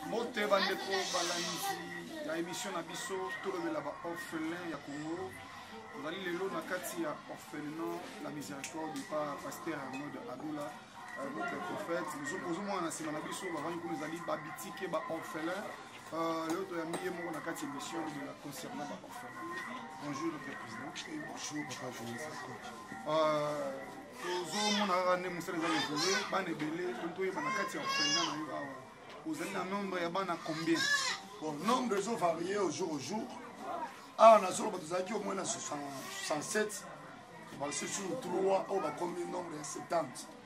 mbote bandeko balandi ya emission na biso tolobela ba orphelin ya congo tozali lelo na kati ya orphelinat la miséricorde pa pasteur arnold adola euh, notre prophète ozomona na nsima na biso bavandi kuna ezali babitike ba orphelin euh, lelo toyambi ye moko na kati ya émission lobela concernant ba orphelin bonjour notre président bonjour papa journaliste tozomona kaka nde mosala eza evolue bana ebele toyeba na kati ya ofenda na yo awa ozali na nombre ya bana combien bon nombre ezo varie au jour au jour awa na zoloba tozalaki omoi na 67 basusu 3 oyo bakomi nombre ya 70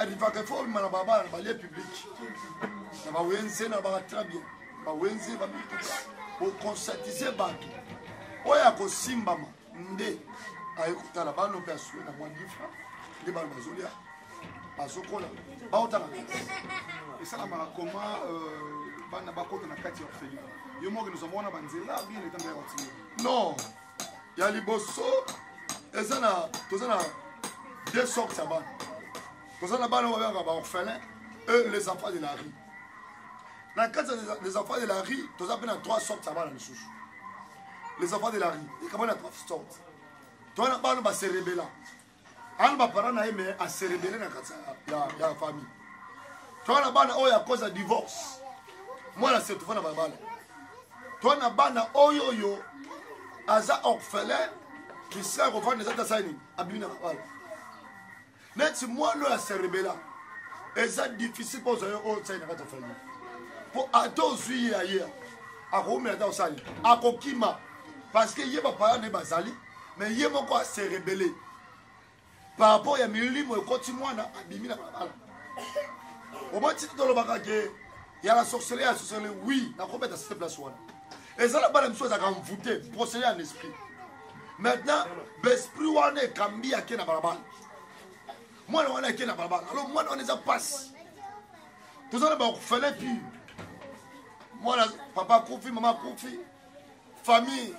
arivaka fo obima na babala na balie publike na bawenze na baka très bien bawenze bamituka boconscientise bato oyo akosimbama nde aye kotala bano mpe asue na mwa difra nde bano bazolia bazokola baotaka kati esalamaka koma euh, bana bakota na kati ya orphelin yo moko nozwa mwana banzela bien etanda ya watio non ya liboso eza na toza na deux sortes ya bana toza na bana oyo babengaka baorphelin e les enfants de la rue na kati ya les enfants de la rue toza mpe na trois sortes ya bana lisusu les enfants de la rue ekabana trois sortes toza na bana baserebela ana bapara na ye me aserebele na kati ya famille to na bana oyo akoza divorce mwana setufa na balabala to na bana oyo oyo aza orphelin kisila kofanda eza tasai nini abimi na balabala neti mwana oyo aserebela eza difficile mpo ozwa yo oyo sai na kati ya famille mpo ata ozwi ye aye akoumela ata osali akokima parce que ye bapaya nde bazali mais ye moko a se rebelle par rapport ya milimo ekoti mwana abimi na balabala omoi titi tolobaka ke ya la sorcellerie ya sorcellerie oui nakobeta site place wana eza na bana misusu ezalaka mvoute procédé en esprit maintenant besprit wana ekambi ake na balabala mwana wana ake na balabala alors mwana wana eza mpasi toza na bakufele pire mwana papa akufi mama akufi famille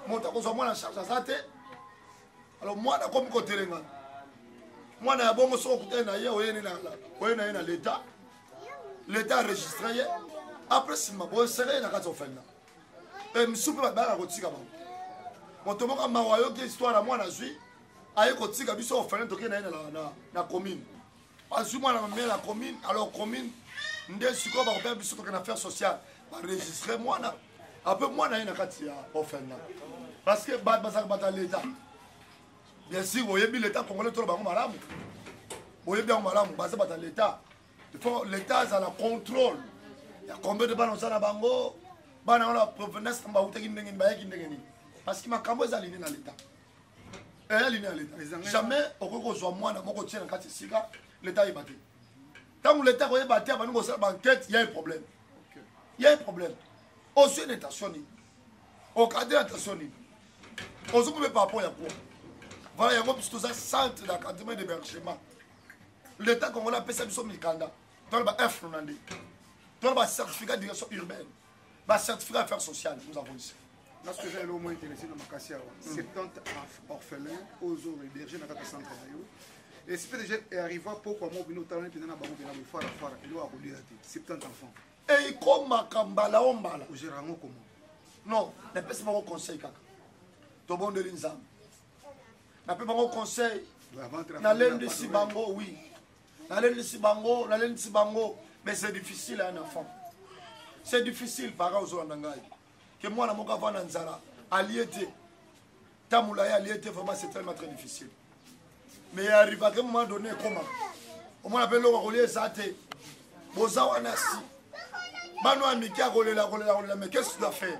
moto akozwa mwana charge aza te alors mwana akomi kotelengana mwana ya bongo soki okutani na ye oye na ye na leta leta aregistre ye apres nsima boesere ye na kati ya ofenda e misu mpe babaka kotika bango moto moko mawa ayoki histoire ya mwana azwi aye kotika biso ofenda toke na ye na commune bazwi mwana mamela na commune alors commune nde sikoyo bakopea biso toke na affaire sociale baregistre mwana ape mwana ye na kati ya ofenda parce que bato bazalaka bato ya leta bien sûr boyebi leta congolais tolo bango malamu boyebi yango malamu baza bato ya leta il faut leta azala contrôle ya combien de bana oza na bango bana wana provenance na bawutaki ndenge nini bayaki ndenge nini parce que makambo ezali nde na leta eya lini ya leta jamais okoki kozwa mwana moko tie na kati esika leta ayeba te ntango leta akoyeba te abandi kosala bankete ya eproblème ya eproblème ozwi na etation nini okade na etation nini ozokobe par rapport ya kuwa voilà yango biso toza centre d'encadrement et d'hébergement l'état congolais apesa biso mikanda tona ba infre na nde tona ba certificat direction urbaine ba certificat affaire sociale nous avons ici parce que ezali omo intéressé na makasi awa 70 orphelin ozo héberge na kaka centre na yo esprit déjà arriva pokwa mo bino otalani mpenza na bango mpena boye fara fara eloko akolia te 70 enfant ekomaka mbala o mbala ogera yango koma non napesi bango conseil kaka tobondeli nzambe nape bango conseil nalendisi bango wi nalendisi bango nalendisi bango mais c'est difficile un enfant c'est difficile para ozolanda ngai ke mwana moko avanda na nzala alie te tamula ye alie te vraiment c'est tellement très difficile mais arrivake moment donné ekoma omona mpe eloko akolia eza te boza wana si bano ya mike akolela akolela akolela mais qu'est ce que tu dois faire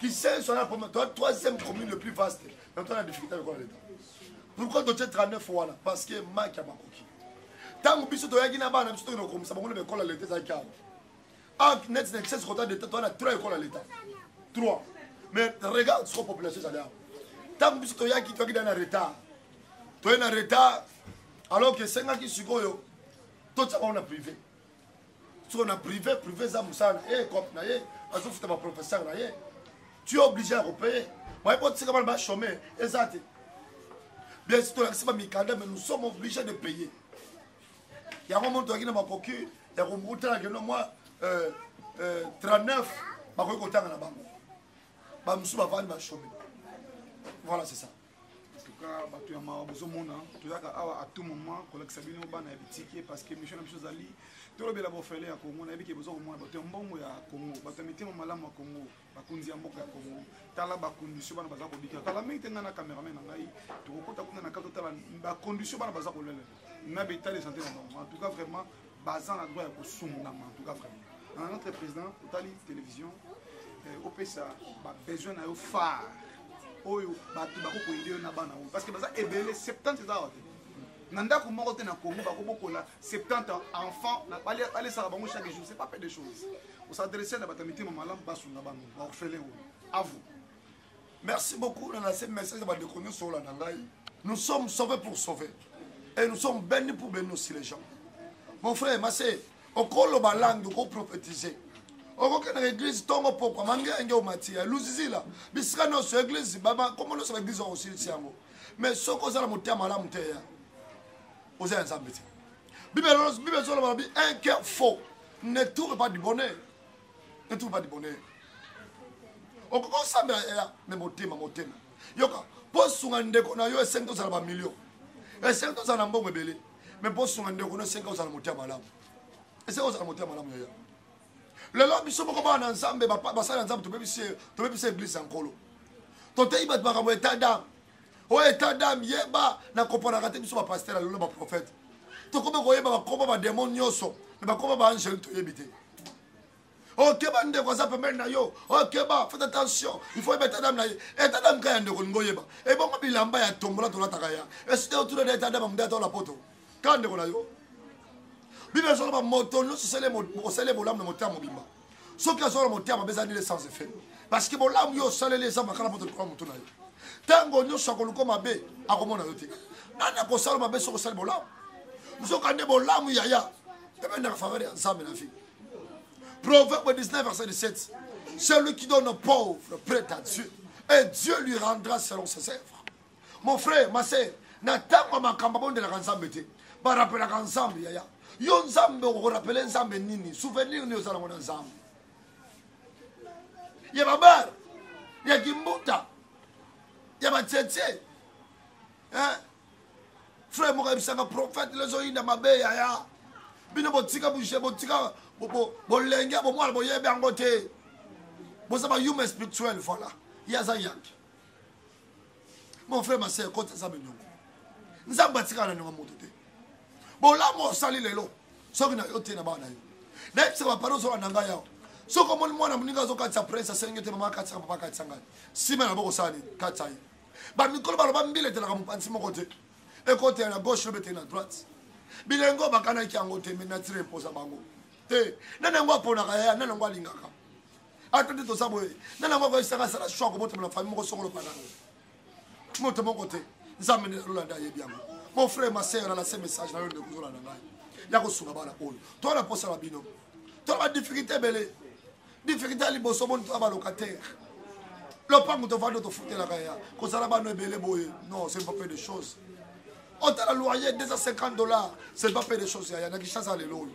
kisenso na poma toa troisième commune le plus vaste na toa na difficulté lokola leta pourquoi totie 39 wana parce que maki ya makoki ntango biso toyaki na bana biso tokende kokomisa bango na baekola leta ezalaki awa ah, neti na excès kota leta toa na 3 ekola leta 3 mais regarde soko population ezali awa ntango biso toyaki toyaki da na retard toye na retard alors que esengaki sikoyo totia bango na privé soko na privé privé eza mosala na ye cope na ye azofuta baprofesseur na ye tu es obligé ya kopeye baye botika bana bachome eza te bien si tolakisi bamikanda mais nous sommes obligé de payer yango moto aki na makoki ya kotala keno mwa 39 bakoki kotanga na bango bamosusu bavandi bachome voilà c'est ça cas bato ya mawa bozomona toyaka awa à tout moment kolakisa bino bana ya bitike parce que mission na biso ezali tolobela bofele ya congo nayebi ke boza komona bato ya mbongo ya congo bato ya mitema malamu ya congo bakonzi ya mboka ya congo tala bacondition bana baza kobika kala mingi te ngai na cameraman na ngai tokokota kuna na kati totala bacondition bana baza kolelela na betale sante na bango en tout cas vraiment baza na droit ya kosungama en tout cas vraiment na notre président otali télévision eh, opesa babesoin na yo phare oyo bato bakokoyede yo na bana oyo parce que baza ebele 70 eza awa te na ndako moko te na congo bakobokola 70 enfant balesaka bango chaque jour c'est pas peu de choses osadresse na bato ya mitema malamu basunga bango baorphelin oyo avo merci beaucoup na lase message ya bandeko nyonso olanda ngai nous sommes sauvés pour sauver et nous sommes bénis pour bénis aussi les gens mon frère mase okoloba langue okoprophétise okokendaka église ntongo pokwa mangenge omati ya luzizila bisika nyonso église nkombo nyonso baeglise okosilisi yango mais soki oza na motema malamu te ya oza ya nzambe te bible ezoloba lobi un cœur faux ne tourne pas du bonheur ne trouve pas du bonheur okoki osambela ela me motema motema yoka mpo osunga ndeko na yo esengi tozala bamilio esengi tozala na mbongo ebele me mpo osunga ndeko na esengi ozala motema malamu esengi ozala motema malamu yaya lelo biso moko bana na nzambe basali ya nzambe tobebisi eglise ya nkolo toteyi bato makambo etat dame oyo etat dame yeba na kopanaka te biso bapaster ya lelo baprofete tokomi koyeba bakoma bademo nyonso me bakoma baangele toyebi te okeba ndeko aza pembeni na yo okeba faites attention il faut yeba etat dame na ye etat dame ka ya ndeko olingi oyeba ebongo bilamba ya tombola tolataka ya esite otuna na etat dame amundi ata ola poto ka ndeko na yo biblia ezoloba moto nyonso osele bolamu na motema mobimba soki azala motema mabe eza nile sans effet parce que bolamu yo osaleli eza makala moto likolo motu na yo ntango nyonso akoluka mabe akomona yo te nani akosala mabe soki osali bolamu nzoka nde bolamu yaya ebendaka faveur ya nzambe na vie proverbe 19 verset 17 celui qui donne pauvre prête à dieu et dieu lui rendra selon ses œuvres mon frère ma sœur na ntango ya makambo abondelaka nzambe te barapelaka nzambe yaya yo nzambe okorapele nzambe nini souvenir nini oza nango na nzambe ya babare ya kimbuta ya batietie frère moko ayebisaka prophète lezoyinda mabe yaya bino botika bouge botika bolenge bomwana boyebi yango te boza bayume spirituel voilà ye aza yanke mon frère ma sœur kota nzambe niongo nzambe atikala na niongo moto te bolamu osali lelo soki na yo te na bana na yo nayebisa bapana ozola na ngai awa soki omoni mwana moninga azokatisa prince asengi te mama akatisaka papa akatisa ngai nsima na bokosala nini katisa ye bamikolo baloba mbila etelaka mopanzi moko te ekotela na gauche lobe te na droite bilengo bakanaki yango te me natire mposa bango te nani yango aponaka yaya nani yango alingaka ato nde toza boye nani yango akoyesaka asala shoi akobotama na famille moko songolo panango moto moko te nzambe nde nalolanda ayebi yango mon frère ma sœur alase message nayo ndeko ozolanda ngai ya kosunga bana oyo toa na mposa na bino toa badifficulté ebele difficulté ya liboso moni toa balocataire lopango tovandi tofutelaka ya kozala bana ebele boye non c'est pas peu de choses otala loyer 250 dollars c'est pas peu de choses yaya na kishasa lelo oyo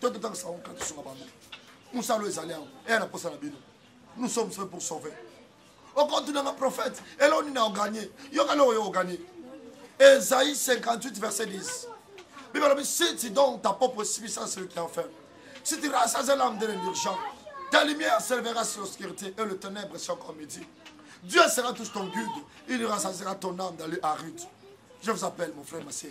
to totangisa bango kaka tosunga bango mosala ezali yango eya na mposa na bino nous sommes faits pour sauver okotunanga prophète eloo nini aoganie yoka eloko yo oganie esaïe 58 verset 10 bible alobi si tu donnes ta propre subissance celui qui en fait si tu rassases l'âme de l'urgent ta lumière s'élevera sur l'obscurité et le ténèbre sur comme midi Dieu sera tous ton guide. Il rassasera ton âme dans les arutes. Je vous appelle, mon frère, ma sœur.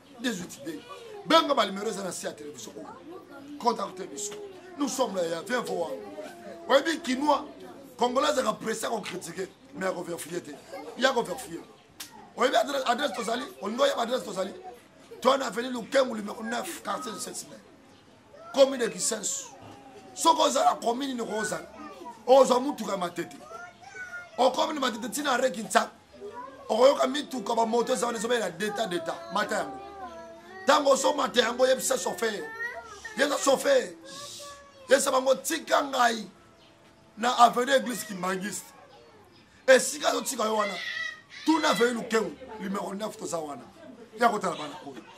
18 b benga balimero eza na se ya televizio oyo contacte biso nous sommes là ya vien voa oyebi kinois congolais azaka presse ya kokritike mais ya koverfie te ya koverfie oyebi adresse tozali olingi oyeba adresse tozali toi na aveni lukengu numero 9 quartier du sesime commune kisensu soki ozala commune niko ozala ozwa motuka ya matete okomi na matete ntina areki nsango okoyoka mituka bamoto eza wana ezobela deta deta mata yango ntango ozomata yango yebisa sofer yeza sofer yesa bango tika ngai na avenue église kimbangiste esika azotika yo wana tuna avenue lukengu numero 9 toza wana ya kotala bana oyo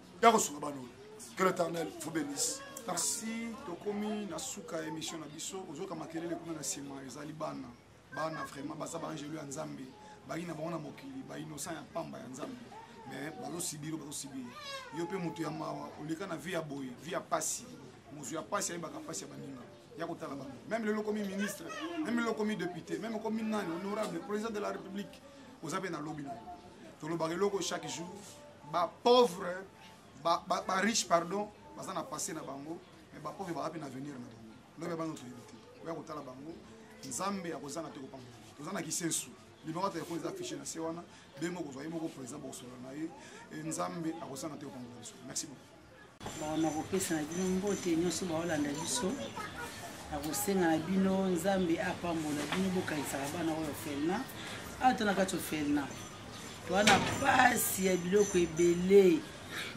ya kosunga bano que l'éternel vous bénisse merci tokomi na suka ya émission na biso ozoyoka makelele kuna na nsima ezali bana bana vraiment baza baangelo ya nzambe bayi na bango na mokili bainocent ya mpamba ya nzambe mais bazosibiri bazosibiri yo mpe moto ya mawa oleka na vie ya boye vie ya mpasi mozu ya mpasi ayebaka mpasi ya baninga ya kotala bango meme lelo okomi ministre meme lelo okomi député meme okomi nani honorable président de la république oza mpe na lobi na yo tolobaka eloko chaque jour ba pauvre ba, ba, ba riche pardon baza na passé na bango mais ba pauvre baza mpe na avenir na bango lobi ya bana toyebi te oya kotala bango nzambe akozanga te kopambola toza na kisensu limaka telefone eza affiche na se wana benge okozwa ye moko président bokosolola na ye nzambe akosanga te kopambola biso merci beaucoup Bon, nakopesa na bino mbote nyonso baolanda biso nakosenga na bino nzambe apambola bino bokanisaka bana oyo ofelna awa to na kati ofelna towana mpasi ya biloko ebele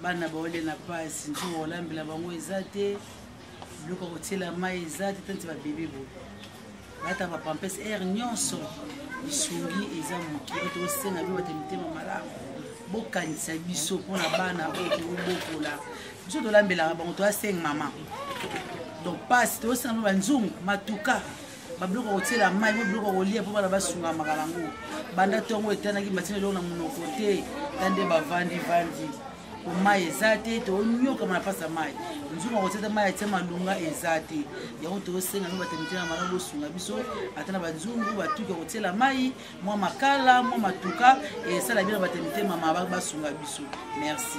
bana baolia na mpasi nzoka kolambela bango eza te biloko ya kotyela mai eza te tanti babebe boye lata ba pampes air nyonso lisungi eza moke oyo tokosenga bino bate mitema malamu bokanisa biso mpona bana oyo tokobokola biso tolambelaka bango toya seng mama donc pasi tokosenga bino banzungu matuka babiloko ya kotyela mai mo biloko ya kolia mpo bana basungamaka nango banda ntongo etanaki batyela eloko na monoko te ta nde bavandi vandi mai eza te toonyokama na mpasa mai nzungu akotata mai atia malunga eza te yango tosenga mpe batemite na malamu bosunga biso ata na banzungu batuki akotiela mai mwa makala mwa matuka esala bino batemite mama basunga biso merci